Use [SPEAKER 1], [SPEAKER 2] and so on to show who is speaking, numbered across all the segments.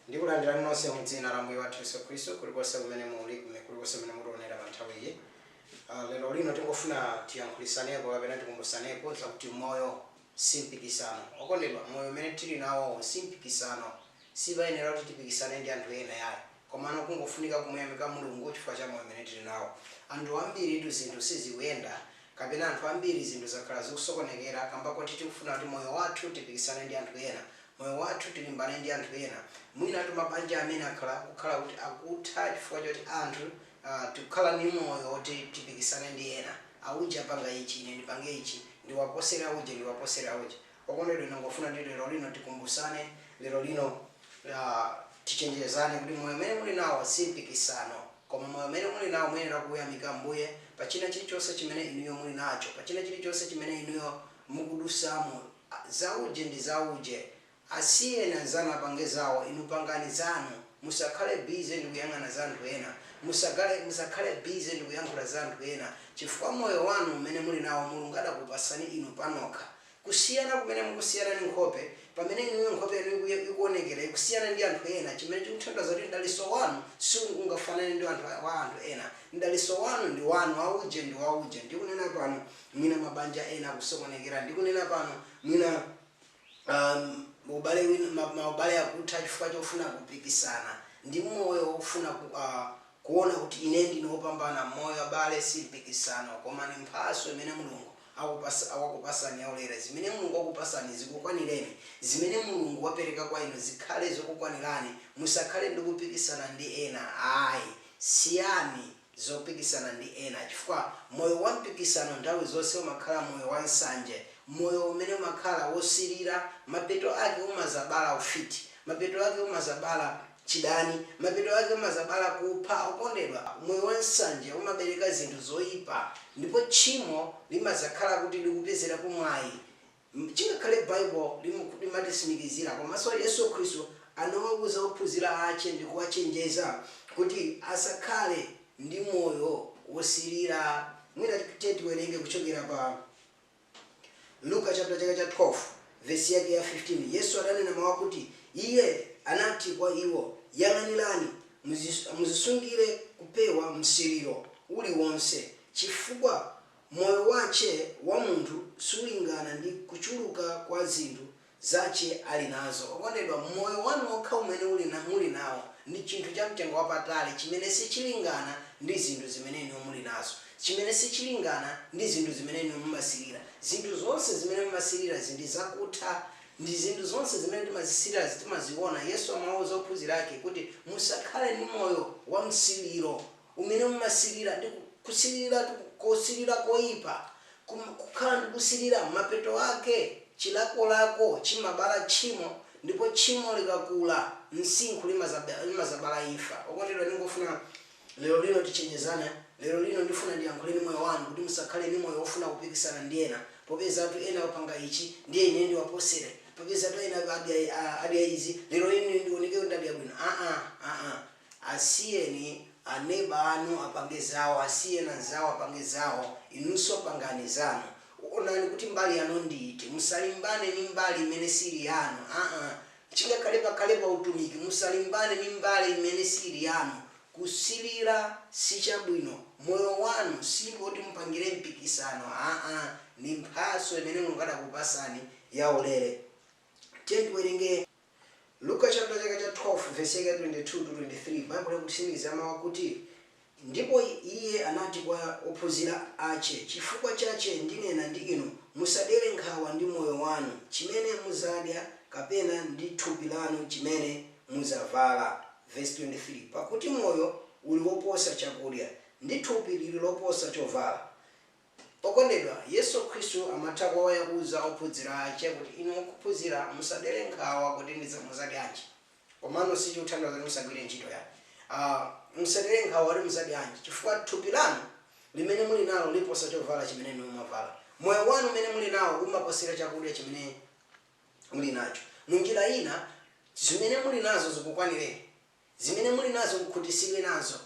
[SPEAKER 1] Ndikulandirani nonse mu Dzina la Ambuye wathu Yesu Khristu, kulikonse kumene muli, kumene kulikonse kumene mutionera pa nthawi iyi. Ah, lero lino tingofuna tiyankhulisaneko kapena tikumbusaneko zakuti moyo si mpikisano. Okondedwa, moyo umene tili nawowo si mpikisano. Sipayenera kuti tipikisane ndi anthu ena ayi. Komano kungofunika kumuyamika Mulungu chifukwa cha moyo umene tili nawo. Anthu ambiritu zinthu sizikuyenda, kapena anthu ambiri zinthu zakhala zikusokonekera kamba koti tikufuna kuti moyo wathu tipikisane ndi anthu ena. moyo wathu, tilimbane ndi anthu ena, mwinatu mabanja amene akhala akukhala kuti akutha chifukwa choti anthu aah tikukhala ndi moyo woti tipikisane ndi ena, auje apanga ichi ine ndipange ichi, ndiwaposere auje ndiwaposere auje. Okondedwa ndingofuna kuti lero lino tikumbusane, lero lino aah tichenjezane kuti moyo umene muli nawo si mpikisano, koma moyo umene muli nawo muyenera kuyamika Ambuye pa china chilichonse chimene inuyo muli nacho, pa china chilichonse chimene inuyo mukudusamo, zauje ndi zauje asiyeni anzanu apange zawo inu pangani zanu musakhale busy ndikuyang'ana za anthu ena musagale musakhale busy ndikuyankhula za anthu ena chifukwa moyo wanu umene muli nawo mulungu adakupasani inu panokha kusiyana kumene mukusiyana ndi nkhope pamene inuyo nkhope yanu ikuye ikuonekera ikusiyana ndi anthu ena chimene chikutanthauza kuti mdalitso wanu siungafanane ndi wanthu wa anthu ena mdalitso wanu ndi wanu wauje ndi wauje ndikunena pano mwina mabanja ena akusokonekera ndikunena pano, mwina uhm, ubale wina, ma, maubale akutha chifukwa chofuna kupikisana ndi moyo wofuna ku, uh, kuona kuti ine ndine wopambana m'moyo. Abale, si mpikisano, koma ndi mphatso imene Mulungu akupasa, wakupasani yaulere. Zimene Mulungu wakupasani zikukwanireni. Zimene Mulungu wapereka kwa inu zikhale zokukwanirani. Musakhale ndi kupikisana ndi ena ayi. Siyani zopikisana ndi ena, chifukwa moyo wa mpikisano nthawi zonse umakhala moyo wa nsanje, moyo umene umakhala wosilira, mapeto ake umazabala ufiti, mapeto ake umazabala chidani, mapeto ake umazabala kupha okondedwa. Moyo wa nsanje umabereka zinthu zoipa, ndipo tchimo limazakhala kuti likupezerako mwayi. Chingakhale Baibulo limatisimikizira komaso Yesu Khristu anawauza ophunzira ache ndikuwachenjeza kuti asakhale ndi moyo wosilira mwina tiye tiwerenge kuchokera pa Luka chapter chake cha 12 vesi yake ya 15 Yesu adanena mau akuti iye anati kwa iwo yang'anirani mudzisungire kupewa msiriro uliwonse chifukwa Moyo wace wa munthu sulingana ndi kucuruka kwa zinthu zace ali nazo. Okondedwa, moyo wanu wokha umene muli nao ndi cinthu ca mtengo wapatali cimene sicilingana ndi zinthu zimene inuyo muli nazo, cimene sicilingana ndi zinthu zimene inuyo mumasirira. Zinthu zonse zimene mumasirirazi ndi zakutha. Ndi zinthu zonse zimene timazisirira timaziona. Yesu amawauza ophunzira ake kuti, Musakhale ndi moyo wamsiriro. umene mumasilira ndi kusiliratu kosilira koipa kuma kukhala ndi kusilira mapeto ake chilakolako chimabala tchimo ndipo tchimo likakula msinkhu limazaba limazabala imfa okondedwa ndingofuna lero lino tichenjezane lero lino ndifuna ndiyankhule ndi moyo wanu kuti musakhale ndi moyo ofuna kupikisana ndi ena popezatu ena apanga ichi ndiye ine ndiwaposere popezatu ena adya adya izi lero ine ndioneke kuti ndadya bwino aa aa Asiyeni a neba anu apange zawo, asiyeni anzanu apange zawo, inunso pangani zanu. Onani kuti mbali yanu ndi iti. Musalimbane ndi mbali imene siili yanu aa chingakhale pakhale pa utumiki musalimbane ndi mbali imene siili yanu. Kusilira si chabwino. Moyo wanu si oti mupangire mpikisano aa ndi mphatso imene Mulungu adakupasani yaulere. Tiyeni tiwerenge. Luka chaputala chake cha 12 vesi yake ya 22, 23 Baibulo likutsimikizira mau akuti, Ndipo Iye anati kwa ophunzira ache, Chifukwa chache ndinena ndi inu, musadere nkhawa ndi moyo wanu, chimene muzadya, kapena ndi thupi lanu chimene muzabvala, vesi 23 Pakuti moyo uli woposa chakudya, ndi thupi liri loposa chobvala. Okondedwa, Yesu Khristu amatha kuoya kuuza ophunzira ache kuti inu akuphunzira musadere nkhawa kuti ndidzamuzadyanji komano sichikutanthauza kuti musagwire nchito yai aa musadere nkhawa kuti muzadyanji chifukwa thupi lanu limene muli nalo limaposa chovala chimene inu mumavala moyo wanu umene muli nao umaposera chakudya chimene muli nacho munjira ina zimene muli nazo zikukwanireni Zimene muli nazo mukhutisidwe nazo.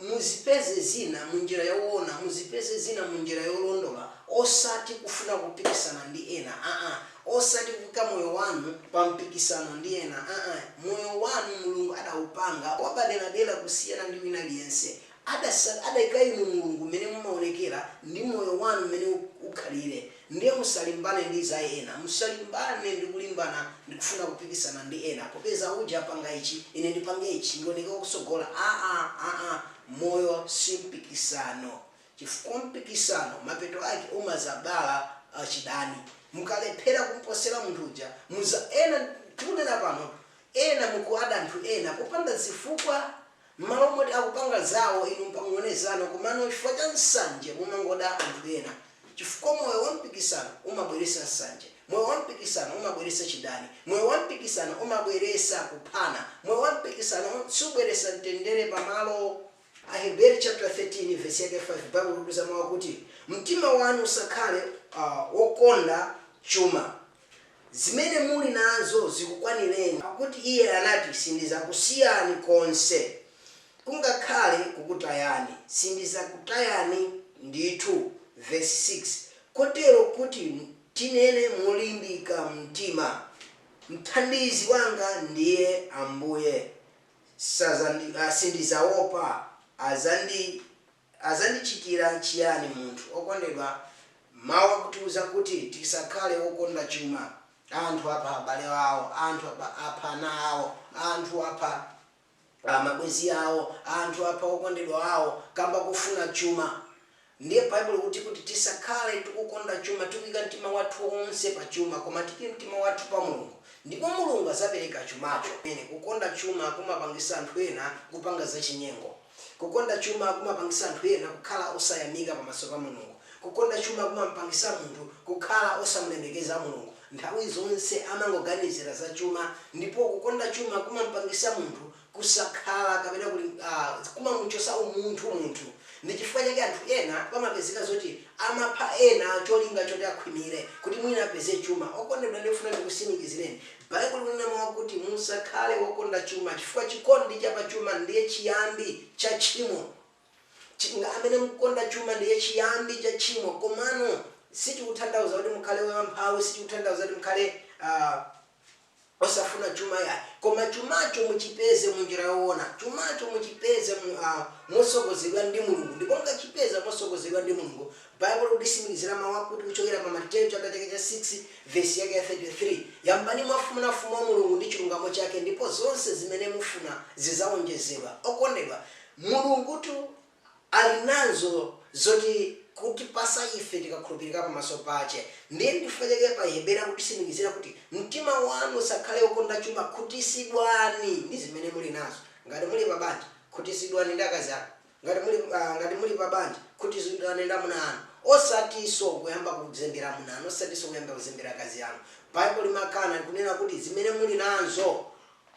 [SPEAKER 1] Muzipeze zina munjira yowona, muzipeze zina munjira yolondola osati kufuna kupikisana ndi ena aa, osati kuika moyo wanu pa mpikisano ndi ena aa. Moyo wanu Mulungu adawupanga wapaderadera kusiyana ndi wina aliyense. Adasat adaika inu mulungu mmene mumaonekera ndi moyo wanu mmene ukhalire ndiye musalimbane ndi za ena musalimbane ndikulimbana ndikufuna kupikisana ndi ena popeza uja apanga ichi ine ndipange ichi ndioneke wakutsogola aa aa moyo simpikisano chifukwa mpikisano mapeto ake umazabala chidani mukalephera kumposera munthu uja muza ena tikunena pano ena mukuada anthu ena popanda zifukwa Mmalo moti akupanga zawo inu m'pange zanu komano chifukwa cha nsanje mumangoda anthu ena chifukwa moyo wa mpikisano umabweresa nsanje moyo wa mpikisano umabweresa chidani moyo wa mpikisano umabweresa kuphana moyo wa mpikisano subweresa mtendere pa malo. Aheberi chaputala 13 vesi yake 5 baibulo likuza mau akuti mtima wanu usakhale wokonda chuma. Zimene muli nazo zikukwanireni, pakuti Iye anati, Sindidzakusiyani konse, kungakhale kukutayani, sindidzakutayani ndithu. Vesi 6, Kotero kuti tinene molimbika mtima, Mthandizi wanga ndiye Ambuye, sadzandi, sindidzawopa, adzandi. Adzandichitira chiyani munthu okondedwa Mawu akutiuza kuti tisakhale okonda chuma. Anthu apha abale awo, anthu apha apha ana awo, anthu apha a, mabwenzi awo, anthu apha okondedwa awo kamba kofuna chuma. Ndiye Baibulo likuti kuti tisakhale tikukonda chuma, tikuika mtima wathu onse pa chuma, koma tiike mtima wathu pa Mulungu, ndipo Mulungu adzapereka chumacho. Kukonda chuma kumapangisa anthu ena kupanga zachinyengo. Kukonda chuma kumapangisa anthu ena kukhala osayamikika pamaso pa Mulungu. Kukonda chuma kumampangisa munthu kukhala osamulemekeza Mulungu. Nthawi zonse amangoganizira za chuma ndipo kukonda chuma kumampangisa munthu kusakhala kapena kuli a kumamuchosa umunthu munthu. Ndi chifukwa chake anthu ena kumapezeka zoti amapha ena cholinga choti akhwimire kuti mwina apeze chuma. Okondedwa ndikufuna ndikusimikizireni Baibulo linanena mawu akuti, Musakhale wokonda chuma, chifukwa chikondi cha pa chuma ndiye chiyambi cha tchimo. Anthu amene mukukonda chuma ndiye chiyambi cha tchimo komano sichikutanthauza kuti mukhale amphawi, sichikutanthauza kuti mukhale a osafuna chuma yayi. Koma chumacho muchipeze mu njira yowona. Chumacho muchipeze mu a motsogozedwa ndi Mulungu ndipo mukachipeza motsogozedwa ndi Mulungu, Baibulo likutitsimikizira mawu akuti kuchokera pa Mateyu chaputala chake cha 6 vesi yake ya 33, Yambani mwafuna Ufumu wa Mulungu ndi chilungamo chake, ndipo zonse zimene mufuna zidzawonjezedwa. Okondedwa, Mulungutu ali nazo zoti kutipatsa ife tikakhulupirika pamaso pache. Ndiye nchifukwa chake pa Aheberi akutitsimikizira kuti, Mtima wanu usakhale wokonda chuma, khutitsidwani ndi zimene muli nazo. Ngati muli pabanja, khutitsidwani ndi akazi anu. ngati muli ngati muli pa banja khutisidwani ndi amuna anu osatiso kuyamba kuzembera amuna anu osatiso kuyamba kuzembera akazi anu Baibulo limakana likunena kuti zimene muli nanzo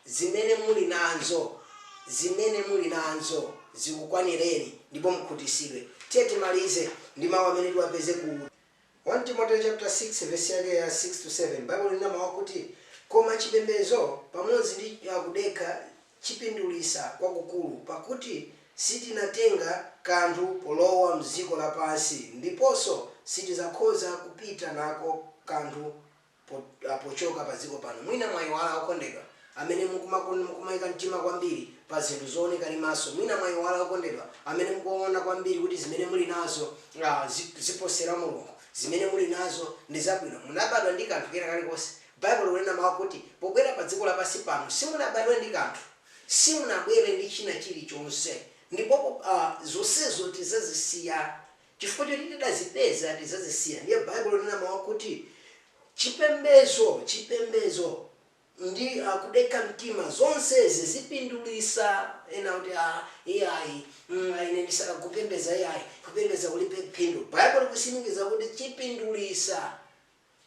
[SPEAKER 1] zimene muli nanzo zimene muli nanzo zikukwanireni ndipo mukhutisidwe tiye timalize ndi mawu amene tiwapeze ku 1 Timoteo chaputala 6 vesi yake ya 6 to 7 Baibulo linena mau akuti, Koma chipembedzo pamodzi ndi kudekha chipindulitsa kwakukulu, pakuti sitinatenga kanthu polowa m'dziko lapansi, ndiponso sitikhoza kupita nako kanthu. po, a, pochoka pa dziko pano. Mwina mwayiwala okondedwa amene mukumakon, mukumaika mtima kwambiri pa zinthu zooneka ndi maso. Mwina mwayiwala okondedwa amene mukuona kwambiri kuti zimene muli nazo, a, zi, ziposera Mulungu. Zimene muli nazo ndi zabwino. Munabadwa ndi kanthu kena kalikonse? Baibulo likunena mau akuti pobwera pa dziko lapansi pano simunabadwe ndi kanthu. Simunabwere ndi china chilichonse. Ndipo po, a, zonsezo tidzazisiya. Chifukwa choti tidazipeza, tidzazisiya. Ndiye Baibulo linena mau akuti, Chipembezo, chipembezo, ndi a, kudekha mtima, zonsezi zipindulitsa? Ena akuti, a, iyayi, mm, a, ine ndisiya kupembedza, iyayi, kupembedza kulibe phindu. Baibulo likutsimikiza kuti chipindulitsa.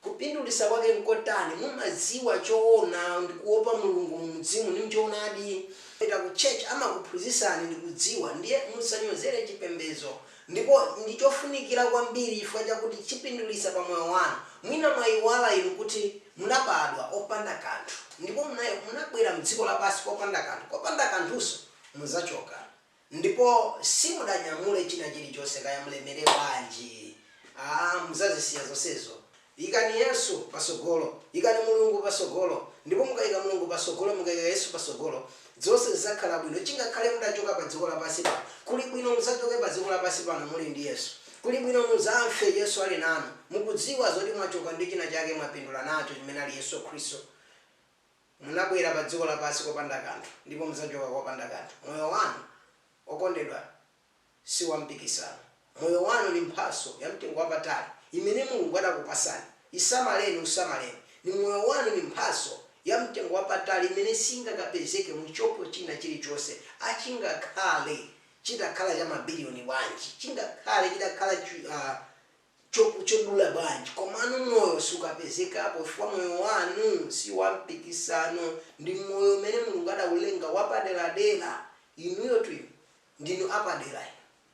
[SPEAKER 1] Kupindulitsa kwake nkotani? Mumadziwa choona ndi kuopa Mulungu mu mzimu ndi mchoonadi. Mukapita ku church amakuphunzitsani ndi kudziwa. Ndiye musanyozere chipembedzo. Ndipo ndi chofunikira kwambiri chifukwa chakuti chipindulitsa pa moyo wanu. Mwina mwaiwala inu kuti munabadwa opanda kanthu ndipo munabwera mdziko lapansi opanda kanthu. Kopanda kanthunso muzachoka. ndipo simudzanyamula china chilichonse kaya mulemere bwanji aa muzazisiya zonsezo ikani yesu pasogolo ikani mulungu pasogolo ndipo mukaika mulungu pasogolo mukaika yesu pasogolo zonse zizakhala bwino chingakhale mutachoka pa dziko lapasi pano kuli bwino muzachoke pa dziko lapasi pano muli ndi yesu kuli bwino muzafe yesu ali nanu mukudziwa zoti mwachoka ndi china chake mwapindula nacho chimene ali yesu khristu Munabwera pa dziko lapansi kopanda kanthu, ndipo mudzachoka kopanda kanthu. Moyo wanu, okondedwa, si wa mpikisano. Moyo wanu ni mphatso ya mtengo wapatali imene Mulungu anakupasani. Isamaleni, usamaleni. Ni moyo wanu ni mphatso ya mtengo wapatali imene singakapezeke mu shopu china chili chonse, a chingakhale chitakhala cha mabilioni bwanji, chingakhale chitakhala chi, a, shop chodula bwanji komano moyo sukapezekapo chifukwa moyo wanu siwampikisano ndi moyo umene mulungu adaulenga wapaderadera inuyotu inu ndinu apadera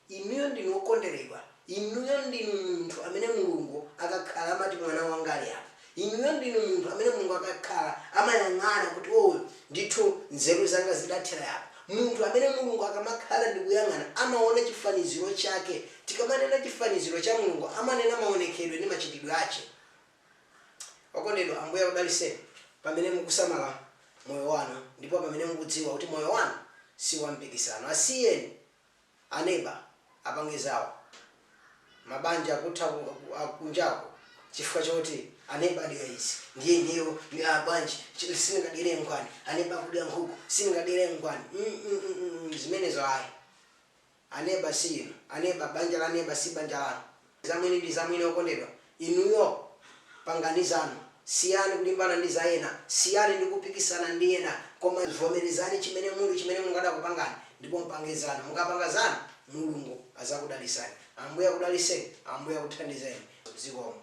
[SPEAKER 1] inu inuyo ndinu okonderedwa inuyo ndinu munthu amene mulungu akakhala amati mwana wanga ali apa Inuyo ndinu munthu amene Mulungu akakhala amayang'ana kuti oh ndithu nzeru zanga zidathera apa. Munthu amene Mulungu akamakhala ndikuyang'ana amaona chifaniziro chake. Tikamanena chifaniziro cha Mulungu amanena maonekedwe ndi machitidwe ache. Okondedwa Ambuye akudaliseni pamene mukusamala moyo wanu ndipo pamene mukudziwa kuti moyo wanu siwampikisano. Asiyeni. aneba apange zawo mabanja akutha kunjaku chifukwa choti aneba adya izi ndiye ineyo aa bwanji sindingadyere mnkwani aneba akudya nkhuku sindingadyere mnkwani mm zimenezo ayi aneba siinu aneba banja la neba si banja lanu. Zamwini ndi zamwini okondedwa. Inuyo pangani zanu. Siyani kulimbana ndi za ena. Siyani ndi kupikisana ndi ena. Koma vomerezani chimene muli chimene Mulungu adakupangani ndipo mpange zanu. Mukapanga zanu Mulungu adzakudalitsani. Ambuye akudalitseni. Ambuye akuthandizeni. Zikomo.